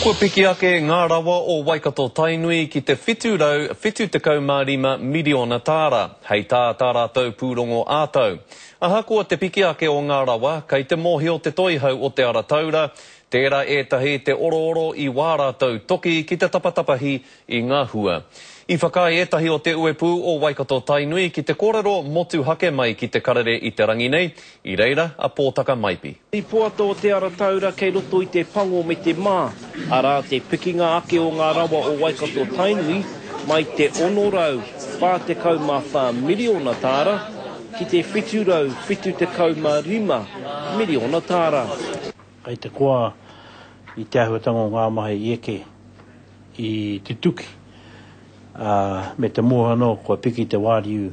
Kua piki ake ngā rawa o Waikato-Tainui ki te 775 miriona tāra, hei tā tā rātou pūrongo ā-tau. Ahakoa te piki ake o ngā rawa, kei te mōhio Te Toihau o Te Ara Taura, tērā ētahi te orooro i wā rātou toki ki te tapatapahi i ngā hua. I whakaae ētahi o te uepū o Waikato-Tainui ki te kōrero motuhake mai ki te karere i te rangi nei, i reira a Pōtaka Maipi. I poata o Te Ara Taura kei roto i te pango me te mā, arā, te pikinga ake o ngā rawa o Waikato-Tainui, mai te 644 miriona tāra ki te 775 miriona tāra. Kei te koa i te āhuatanga o ngā mahi i eke. i te tuki, ā, me te mōhio anō kua piki te wāriu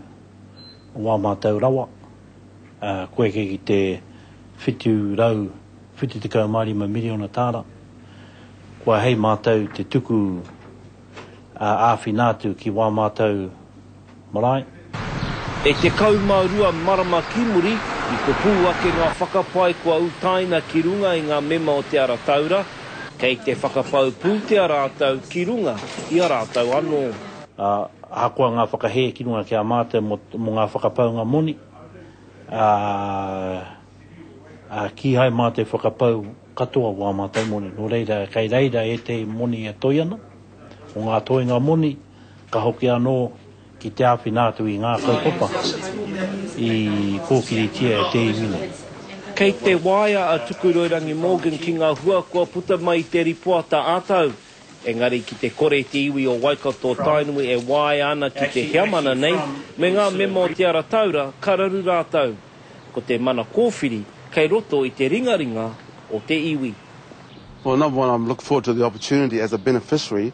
o wā mātau rawa, ā, kua eke ki te 775 miriona tāra, kua hei mātau te tuku ā-āwhina atu ki wā mātau Marae. E 12 marama ki muri, i kopū ake ngā whakapae kua utaina ki runga i ngā mema o Te Ara Taura, kei te whakapau pūtea rātou ki runga i a rātou anō. Ā, ahakoa ngā whakahē ki runga ki a mātou mō, mō ngā whakapaunga moni, ā, ā, kīhai mā te whakapau katoa o ā mātou moni, nō reira, kei reira ētehi moni e toe ana, o ngā toenga moni, Ka hoki anō ki te āwhina atu i ngā kaupapa i kōkiritia e te iwi nei. Kei te waea a Tukuroirangi Morgan ki ngā hua kua puta mai i te ripoata ā-tau. Engari ki te kore te iwi o Waikato-Tainui e waea ana ki te heamana nei me ngā mema o Te Ara Taura ka raru rātou. Ko te mana kōwhiri kei roto i te ringaringa o te iwi. Well number one I'm looking forward to the opportunity as a beneficiary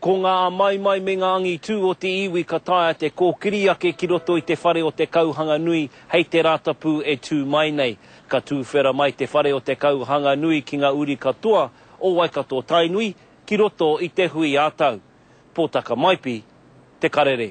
Ko ngā amaimai me ngā angitū o te iwi ka taea te kōkiri ake ki roto i te whare o te kauhanga nui hei te Rātapu e tū mai nei. Ka tūwhera mai te whare o te kauhanga nui ki ngā uri katoa o Waikato-Tainui ki roto i te hui ā-tau. Pōtakamaipi, Te Karere.